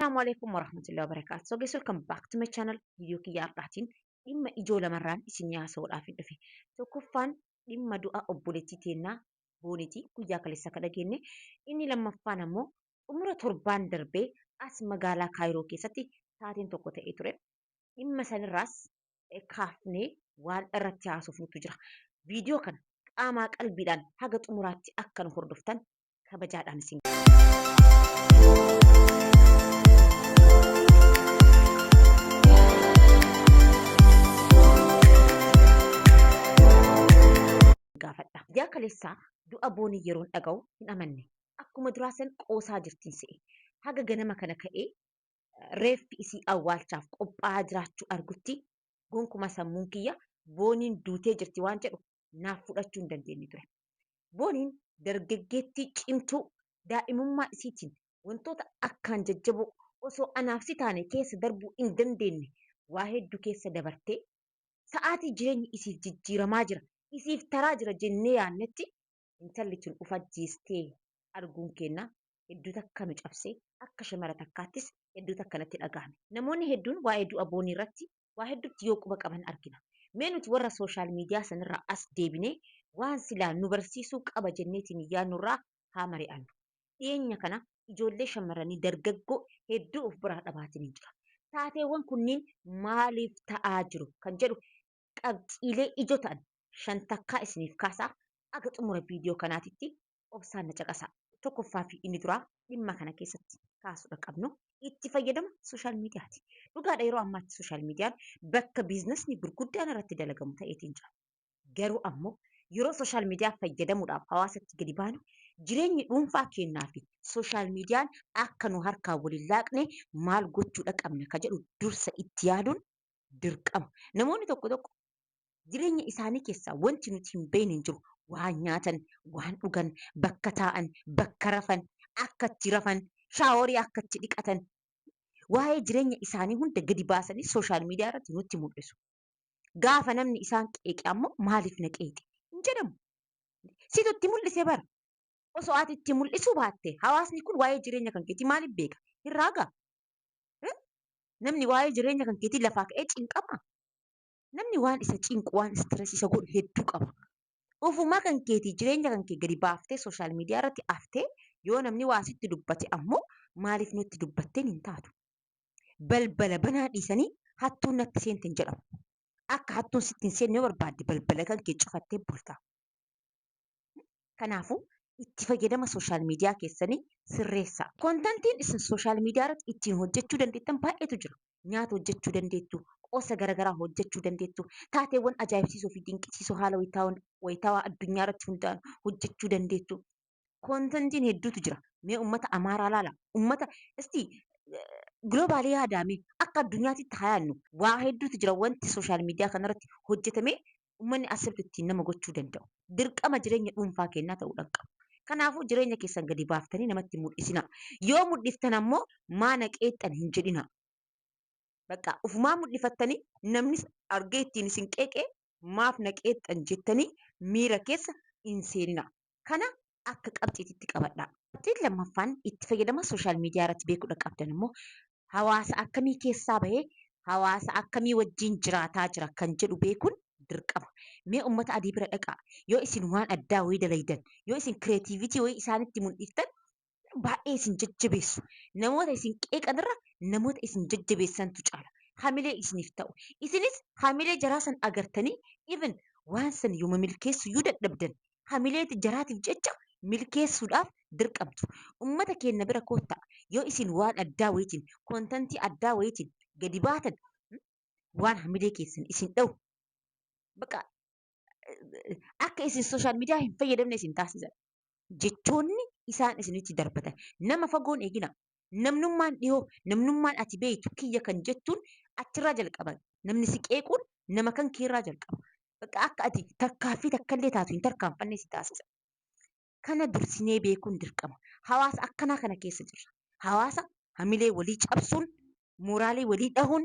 Assalamu alaikum warahmatullahi wabarakatuh. So guys welcome back to my channel. Video kiyya har'aatiin dhimma ijoo lamarraan isin haasa'uudhaaf hin dhufe. Tokkoffaan dhimma du'a obboleettii teennaa boonitii guyyaa kaleessa akka dhageenye. Inni lammaffaan ammoo xumura torbaan darbee as magaalaa Kaayiroo keessatti taateen tokko ta'ee ture. Dhimma sanirraas kaafnee waan irratti haasofnutu jira. Viidiyoo kana qaamaa qalbiidhaan haga xumuraatti akka nu hordoftan kabajaadhaan isin gaafadha. Guyyaa kaleessaa du'a boonii yeroon dhaga'u hin amanne. Akkuma duraa san qoosaa jirtiin se'e. Haga ganama kana ka'ee reeffi isii awwaalchaaf qophaa'aa jiraachuu argutti gonkumaa sammuun kiyya booniin duutee jirti waan jedhu naaf fudhachuu hin dandeenye ture. Booniin dargaggeettii cimtuu daa'imummaa isiitiin wantoota akkaan jajjaboo osoo anaaf si taane keessa darbuu hin dandeenne waa heddu keessa dabartee sa'aatii jireenyi isiif jijjiiramaa jira, isiif taraa jira jennee yaannetti intalli tun uf ajjeestee arguun keenna hedduu takka nu cabsee akka shamara takkaattis hedduu takka natti dhagahame. Namoonni hedduun waa'ee du'a Boonii irratti waa heddutti yoo quba qaban argina. Mee nuti warra social media sanirraa as deebinee waan silaa nu barsiisuu qaba jenneetiin yaadnurraa haa mari'annu. Dhiyeenya kana ijoollee shammarranii dargaggoo hedduu of biraa dhabaatiniin jira. Taateewwan kunniin maaliif ta'aa jiru kan jedhu qabxiilee ijoo ta'an shan takkaa isiniif kaasaa aga xumura video kanaatitti obsaan na caqasaa. Tokkoffaa fi inni duraa dhimma kana keessatti kaasuudha qabnu itti fayyadama sooshaal miidiyaati. Dhugaadha yeroo ammaatti sooshaal miidiyaan bakka biiznasni gurguddaan irratti dalagamu ta'eetiin jira. Garuu ammoo yeroo sooshaal miidiyaa fayyadamuudhaaf hawaasatti gadi baanu jireenyi dhuunfaa keennaa fi sooshaal miidiyaan akka nu harkaa wal hin laaqne maal gochuudha qabna ka jedhu dursa itti yaaduun dirqama. Namoonni tokko tokko jireenya isaanii keessaa wanti nuti hin beekne hin jiru. Waan nyaatan, waan dhugan, bakka taa'an, bakka rafan, akka itti rafan, shaaworii akka itti dhiqatan, waa'ee jireenya isaanii hunda gadi baasanii sooshaal miidiyaa irratti nutti mul'isu. Gaafa namni isaan qeeqe ammoo maaliif na qeeqxe hin jedhamu. Situ itti mul'ise bara. Osoo ati itti mul'isuu baatte hawaasni kun waa'ee jireenya kan keetii maaliif beeka? Hin raagaa? Namni waa'ee jireenya kan keetii lafaa ka'ee cinqama. Namni waan isa cinqu waan istireesii isa godhu hedduu qaba. Ofumaa kan keetii jireenya kan kee gadi baaftee sooshaal miidiyaa irratti aftee yoo namni waa sitti dubbate ammoo maaliif nutti dubbatteen hin taatu. Balbala banaa dhiisanii hattuun natti seente hin jedhamu. Akka hattuun sitti hin seenne yoo barbaadde balbala kan kee cufattee bulta. Kanaafuu itti fayyadama sooshaal miidiyaa keessanii sirreessaa. Kontantiin isin sooshaal miidiyaa irratti ittiin hojjechuu dandeettan baay'eetu jira. Nyaata hojjechuu dandeettu, qoosa garaagaraa hojjechuu dandeettu, taateewwan ajaa'ibsiisoo fi dinqisiisoo haala wayitaawaan wayitaawaa addunyaa irratti hundaa'an hojjechuu dandeettu. Kontantiin hedduutu jira. Mee uummata Amaaraa laala. Uummata isti giloobaalii yaadaamee akka addunyaatti itti haa yaadnu. Waa hedduutu jira wanti sooshaal miidiyaa kanarratti hojjetamee ummanni accept ittiin nama gochuu danda'u dirqama jireenya dhuunfaa keennaa ta'uu dhan qaba. Kanaafuu jireenya keessan gadi baaftanii namatti hin mudhisinaa. Yoo mudhiftan ammoo maana qeeqxan hin jedhinaa. Baqqaa ufumaa mudhifattanii namnis argee ittiin isin qeeqee maaf na qeeqxan jettanii miira keessa hin seeninaa. Kana akka qabxiititti qabadhaa. Qabxiin lammaffaan itti fayyadama social media irratti beekuudha qabdan immoo hawaasa akkamii keessaa bahee hawaasa akkamii wajjin jiraataa jira kan jedhu beekuun dirqama. Mee ummata adii bira dhaqaa yoo isin waan addaa wayii dalaydan yoo isin creativity wayii isaanitti mul'iftan baay'ee isin jajjabeessu. Namoota isin qeeqan irra namoota isin jajjabeessantu caala. Hamilee isiniif ta'u. Isinis hamilee jaraa san agartanii even waan san yooma milkeessu yoo dadhabdan hamilee jaraatiif jecha milkeessuudhaaf dirqamtu. Ummata keenna bira koottaa yoo isin waan addaa wayitiin kontantii addaa wayitiin gadi baatan waan hamilee keessan isin dha'u baqa akka isin sooshaal miidiyaa hin fayyadamne isin taasisan. jechoonni isaan isinitti darbatan nama fagoon eegina namnummaan dhihoo namnummaan ati beeytu kiyya kan jettuun achirraa jalqaban namni si qeequun nama kan keerraa jalqaba bakka akka ati tarkaaffii takkallee taatu hin tarkaanfanne si taasisa kana dursinee beekuun dirqama hawaasa akkanaa kana keessa jirra hawaasa hamilee walii cabsuun mooraalee walii dhahuun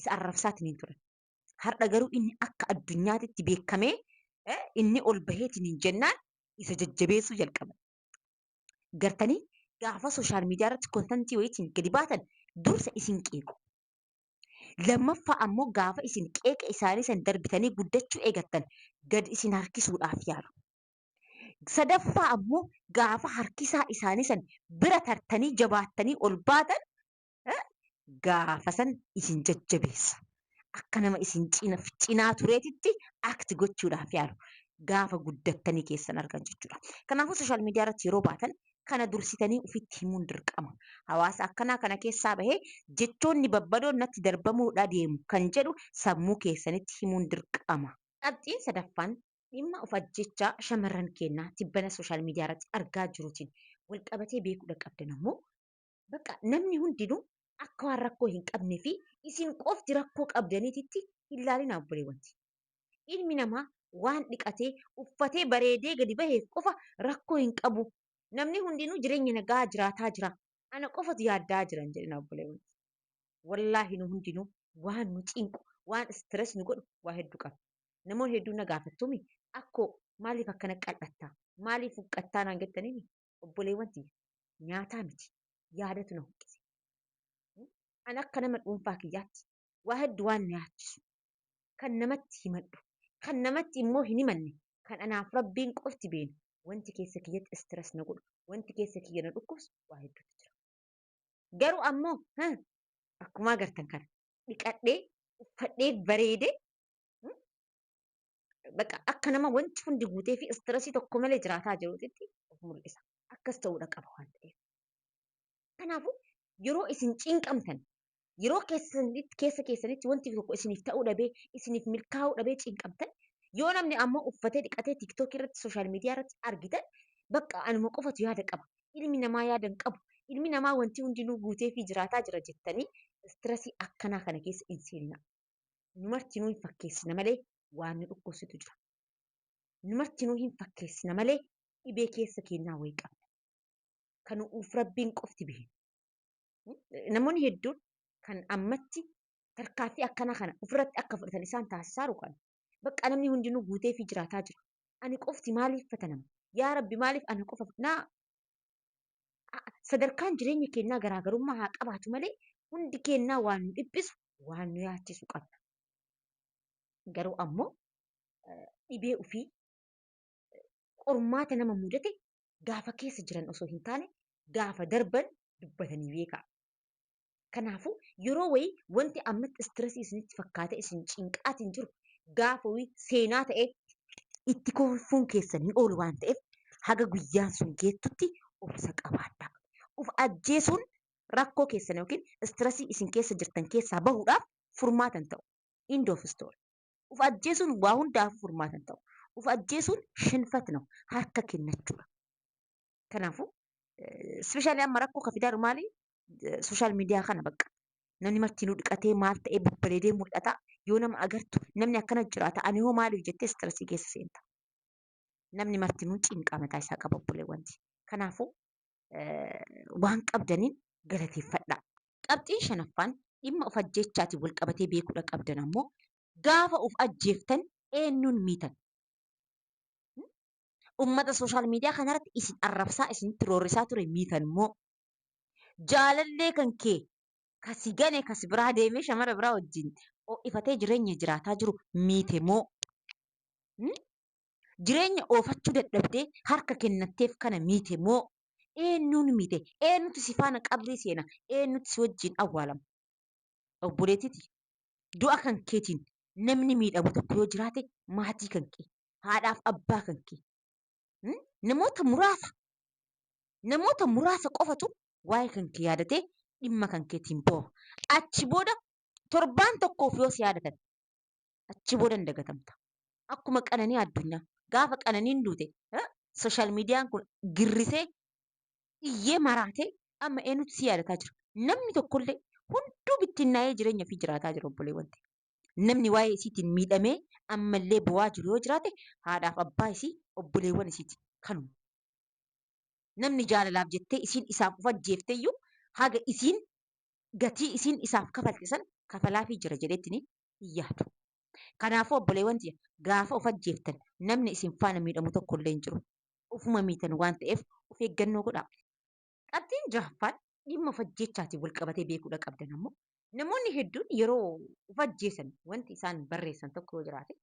isa arrabsaatiniin turan. Har'a garuu inni akka addunyaatitti beekamee eh, inni ol baheetiniin jennaan isa jajjabeessuu jalqaban. Gartanii gaafa sooshaal miidiyaa irratti kontantii wayiitiin gadi baatan dursa isin qeequ. Lammaffaa ammoo gaafa isin qeeqa isaanii san darbitanii guddachuu eegattan gad isin harkisuudhaaf yaalu. Sadaffaa ammoo gaafa harkisaa isaanii san bira tartanii jabaattanii ol baatan gaafasan isin jajjabeessa. Akka nama isin cinaa tureetitti act gochuudhaaf yaalu. Gaafa guddattanii keessan argan jechuudha. Kanaafuu sooshaal miidiyaa irratti yeroo baatan kana dursitanii ofitti himuun dirqama. Hawaasa akkanaa kana keessaa bahee jechoonni babbadoon natti darbamuudha deemu kan jedhu sammuu keessanitti himuun dirqama. Qabxiin sadaffaan dhimma of ajjeechaa shamarran keennaa tibbana sooshaal miidiyaa irratti argaa jiruutiin walqabatee beekuudha qabdan ammoo Bakka namni hundinuu akka waan rakkoo hin qabne fi isin qofti rakkoo qabdaniititti hin laalinaa obboleewwan tiyya. Ilmi namaa waan dhiqatee, uffatee, bareedee gadi baheef qofa rakkoo hin qabu. Namni hundinuu jireenya naga'aa jiraataa jira. Ana qofatu yaadda'aa jira hin jedhinaa obboleewwan tiyya. Wallaahi nu hundinuu waan nu cinqu, waan stress nu godhu waa hedduu qabna. Namoonni hedduun na gaafattu mii? Akkoo maaliif akkana qal'atta? Maaliif huqqattaa naan jettanii mii? obboleewwan tiyya nyaataa miti yaadatu na huqqise. An akka nama dhuunfaa kiyyaatti waa heddu waan na yaachisu kan namatti himadhu kan namatti immoo hin himanne kan anaaf rabbiin qofti beenu wanti keessa kiyyatti stress na godhu wanti keessa kiyya na dhukkubsu waa hedduutu jira. Garuu ammoo ha akkumaa gartan kana dhiqadhee uffadhee bareedee baqa akka nama wanti hundi guutee fi istirasii tokko malee jiraataa jiruutitti of mul'isa. Akkas ta'uudha qaba waan ta'eef. Kanaafuu yeroo isin cinqamtan yeroo keessanitti keessa keessanitti wanti tokko isiniif ta'uu dhabee isiniif milkaa'uu dhabee cinqamtan yoo namni ammoo uffatee dhiqatee tiktookii irratti sooshaal miidiyaa irratti argitan bakka anuma qofatu yaada qaba ilmi namaa yaada hin qabu ilmi namaa wanti hundinuu guutee fi jiraataa jira jettanii istirasii akkanaa kana keessa hin seenina. Nu martinuu hin fakkeessina malee waan nu dhukkubsitu jira. Nu martinuu hin fakkeessina malee dhibee keessa keennaa wayii qabna. Kan nu'uuf Rabbiin qofti beeka. Namoonni hedduun kan ammatti tarkaaffii akkanaa kana ofirratti akka fudhatan isaan taasisaaru kana. Bakka namni hundinuu guuteefii jiraataa jira. Ani qofti maaliif fatanama? Yaa Rabbi maaliif ana qofa na sadarkaan jireenya keenyaa garaagarummaa haa qabaatu malee hundi keenyaa waan nu dhiphisu waan nu yaachisu qabna. Garuu ammoo dhibee ofii qormaata nama mudate gaafa keessa jiran osoo hin taane gaafa darban dubbatanii beekaa. Kanaafuu yeroo wayii wanti ammatti istirasii isinitti fakkaatee isin cinqaatiin jiru gaafa wayii seenaa ta'ee itti kolfuun keessan hin oolu waan ta'eef haga guyyaan sun geettutti obsa qabaadhaa. Of ajjeesuun rakkoo keessan yookiin istirasii isin keessa jirtan keessaa bahuudhaaf furmaata hin ta'u. End of story. Of ajjeesuun waa hundaafuu furmaata hin ta'u. Of ajjeesuun shinfat no harka kennachuudha. Kanaafuu ispeeshaalii amma rakkoo ka fidaa jiru maali? Sooshaal miidiyaa kana bakka namni martinuu dhiqatee maal ta'ee babbareedee mul'ata. Yoo nama agartu namni akkana jiraata ani hoo maaliif jettee istirasii keessa seenta. Namni martinuu cinqaa mataa isaa qaba obboleewwanti. Kanaafuu waan qabdaniin galateeffadhaa. Qabxiin shanaffaan dhimma of ajjeechaatiin wal qabatee beekuudha qabdan ammoo gaafa of ajjeeftan eenyuun miitan? ummata sooshaal miidiyaa kanarratti isin arrabsaa isinitti roorrisaa ture miitanmoo jaalallee kan kee ka si gane ka si biraa deemee shamara biraa wajjin ho'ifatee jireenya jiraataa jiru miitemoo hmm? jireenya oofachuu dadhabdee harka kennatteef kana miitemoo eenyuun miite eenyutu si faana qabrii seena eenyutu si wajjin awwaalama obboleetiti du'a kan keetiin namni miidhamu tokko yoo jiraate maatii kan kee haadhaaf abbaa kan kee hmm? namoota muraasa namoota muraasa qofatu waa'ee kan kee yaadatee dhimma kan keetiin booha. Achi booda torbaan tokkoof yoo si yaadatan achi booda hin dagatamta. Akkuma qananii addunyaa gaafa qananiin duute eh, sooshaal miidiyaan kun girrisee iyyee maraatee amma eenyutu si yaadataa jira. Namni tokkollee hunduu bittinnaa'ee jireenya ofii jiraataa jira obboleewwan ta'e. namni waa'ee isiitiin miidhamee ammallee boo'aa jiru yoo jiraate haadhaaf abbaa isii obboleewwan isiiti kanuma. Namni jaalalaaf jettee isiin isaaf uf ajjeefteyyuu haga isiin gatii isiin isaaf kafalte san kafalaafii jira jedheetiin hin yaadu. Kanaafuu obboleewwan tiyya gaafa uf ajjeeftan namni isin faana miidhamu tokkollee hin jiru. Ufuma miitan waan ta'eef uf eeggannoo godhaa. Qabxiin jahaffaan dhimma of ajjeechaatiin wal qabatee beekuudha qabdan ammoo namoonni hedduun yeroo of ajjeesan wanti isaan barreessan tokko yoo jiraate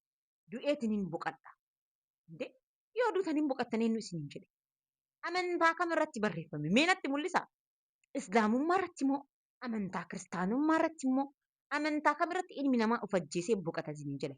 du'eetinin boqadha. Indee yoo duutan hin boqattan eenyu isiniin jedhe? Amantaa kam irratti barreeffame? Mee natti mul'isaa? Islaamummaa irratti moo? Amantaa kiristaanummaa irratti moo? Amantaa kam irratti ilmi namaa of ajjeesee boqata isiniin jedhe?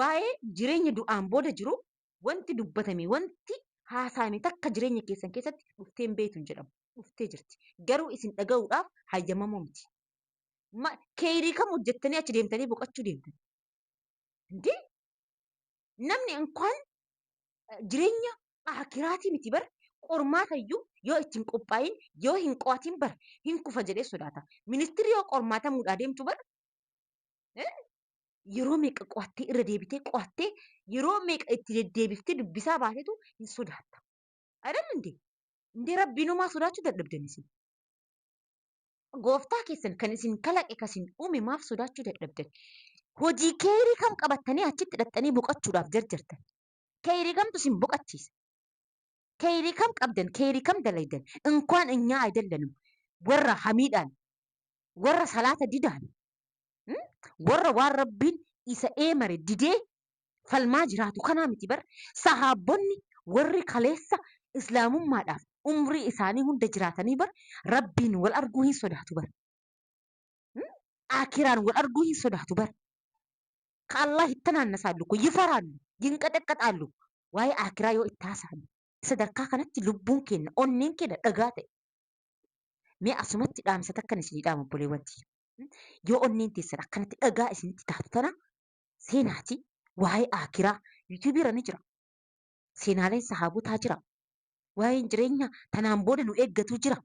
waa'ee jireenya du'aan booda jiru wanti dubbatame, wanti haasa'ame takka jireenya keessan keessatti dhuftee hin beektu hin jedhamu. Dhuftee jirti. Garuu isin dhaga'uudhaaf hayyamamoo miti. Ma, keeyrii kam hojjettanii achi deemtanii boqachuu deemtan? Indee! Namni inkwaan eh, jireenya aakiraatii miti bar qormaata iyyuu yoo itti hin qophaa'in yoo hin qo'atin bar hin kufa jedhee sodaata. Ministirri yoo qormaatamuudhaa deemtu bar eh, yeroo meeqa qo'attee irra deebitee qo'attee yeroo meeqa itti deddeebiftee dubbisaa baatetu hin sodaatta. Ayidal indee? Indee rabbiinumaa sodaachuu dadhabdan isin. Gooftaa keessan kan isin kalaqe kan isin uume maaf sodaachuu dadhabdan? Hojii keeyrii kam qabattanii achitti dhaqxanii boqachuudhaaf jarjartan? Keeyrii kamtu isin boqachiisa? Keeyrii kam qabdan? Keeyrii kam dalaydan? Inkwaan inyaa ayidallanum warra hamiidhaan warra salaata didaan Hmm? Warra waan Rabbiin isa eemare didee falmaa jiraatu kanaa miti bar. Sahaabbonni warri kaleessa islaamummaadhaaf umrii isaanii hunda jiraatanii bar Rabbiin wal arguu hin sodaatu bar. Hmm? Aakiraan wal arguu hin sodaatu bar. Ka Allah itti naannasaallu kun yifaraallu, yinqaxaqqaxaallu. Waa'ee aakiraa yoo itti haasa'an sadarkaa kanatti lubbuun keenna, onneen keenna dhagaa ta'e. Mee asumatti dhaamsa takkan isinii dhaama obboleewwan tiyya. Yoo onneen teessan akkanatti dhagaa isinitti taatu tana seenaati waa'ee aakiraa yuutuubii irra ni jira. Seenaaleen sahaabotaa jira. Waa'een jireenya tanaan booda nu eeggatu jira.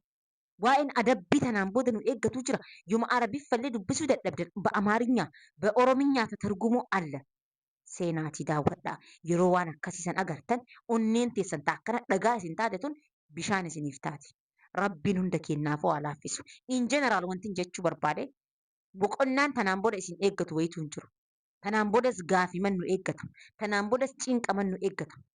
Waa'een adabbii tanaan booda nu eeggatu jira. Yoma Arabiffallee dubbisuu dadhabdan ba Amaarinya ba Orominya tatargumuu alla. seenaatii daawwadhaa. Yeroo waan akkasii san agartan onneen teessan ta akkana dhagaa isin taate tun bishaan isiniif taati. Rabbiin hunda keennaafuu haa laaffisu. In general wantin jechuu barbaade boqonnaan tanaan booda isin eeggatu wayituu hin jiru. Tanaan boodas gaafiman nu eeggata. Tanaan boodas cinqaman nu eeggata.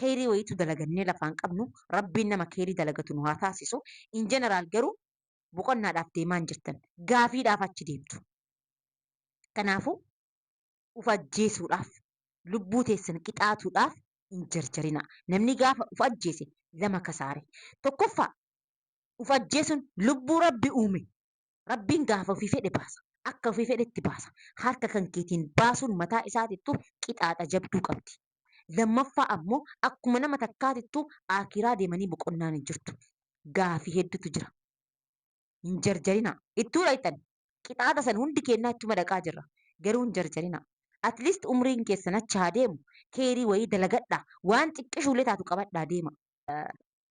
keeyrii wayiitu dalagannee lafaan qabnu rabbiin nama keeyrii dalagatu nu haa taasisu in general garuu boqonnaadhaaf deemaan jirtan gaafiidhaaf achi deemtu kanaafuu uf ajjeesuudhaaf lubbuu teessan qixaatuudhaaf hin jarjarinaa namni gaafa uf ajjeese lama kasaare tokkoffaa uf ajjeesuun lubbuu rabbi uume Rabbiin gaafa ofii fedhe baasa. Akka ofii fedhetti baasa. Harka kan keetiin baasuun mataa isaatittuu qixaaxa jabduu qabdi. Lammaffaa ammoo akkuma nama takkaatittuu Aakiraa deemanii boqonnaan hin jirtu. Gaafi heddutu jira. Hin jarjarinaa. Ittuu dhayxan. Qixaaxa san hundi keennaa ittuma dhaqaa jirra. Garuu hin jarjarinaa. At least umriin keessan achi haa deemu. Kheeyrii wayii dalagadhaa. Waan xiqqishuullee taatu qabadhaa deemaa.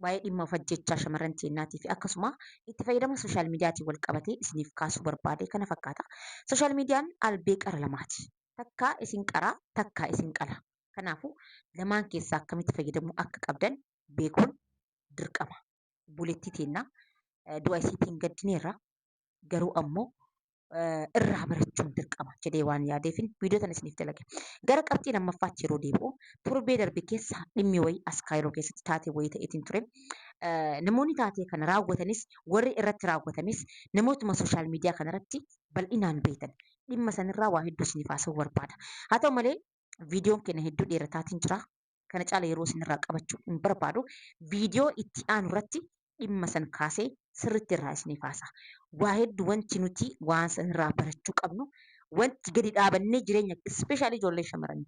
waa'ee dhimma of ajjechaa shamarran teennaatii fi akkasuma itti fayyadama sooshaal miidiyaatiin wal qabatee isiniif kaasuu barbaade kana fakkaata. Sooshaal miidiyaan albee qara lamaati. Takkaa isin qara, takkaa isin qala. Kanaafuu lamaan keessaa akkamitti fayyadamuu akka qabdan beekuun dirqama. Obboleettii teenna du'a isiitiin gaddineerra. garuu ammoo irraa barachuun dirqama jedhee waan yaadeefin viidiyoo tana isiniif dalage. Gara qabxii lammaffaatti yeroo deebi'u torbee darbe keessa dhimmi wayii as kaayiroo keessatti taatee wayii ta'eetiin ture. Namoonni taatee kana raawwatanis warri irratti raawwatames namootuma sooshaal miidiyaa kanarratti bal'inaan beektan. Dhimma sanirraa waa hedduu isiniif haasa'uu barbaada. Haa ta'u malee viidiyoon keenya hedduu dheerataatiin jira. kana caala yeroo isinirraa qabachuu hin barbaadu. Viidiyoo itti aanu irratti dhimma san kaasee sirriitti irraa isiniif haasa'a. Waa heddu wanti nuti waan sanirraa barachuu qabnu wanti gadi dhaabannee jireenya especially ijoollee shamaranii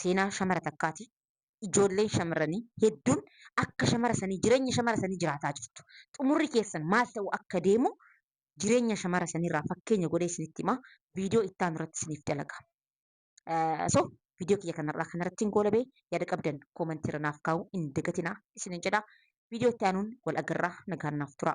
seenaa shamara takkaati. Ijoolleen shamaranii hedduun akka shamara sanii jireenya shamara sanii jiraataa jirtu. Xumurri keessan maal ta'uu akka deemu jireenya shamara saniirraa fakkeenya godhee isinitti hima. Viidiyoo itti aanu irratti isiniif dalaga. So viidiyoo kiyya kanarraa kanarratti hin goolabee yaada qabdan koomantii irra naaf kaa'uu hin dagatinaa isinin jedha. Viidiyoo itti aanuun wal agarraa nagaan naaf turaa.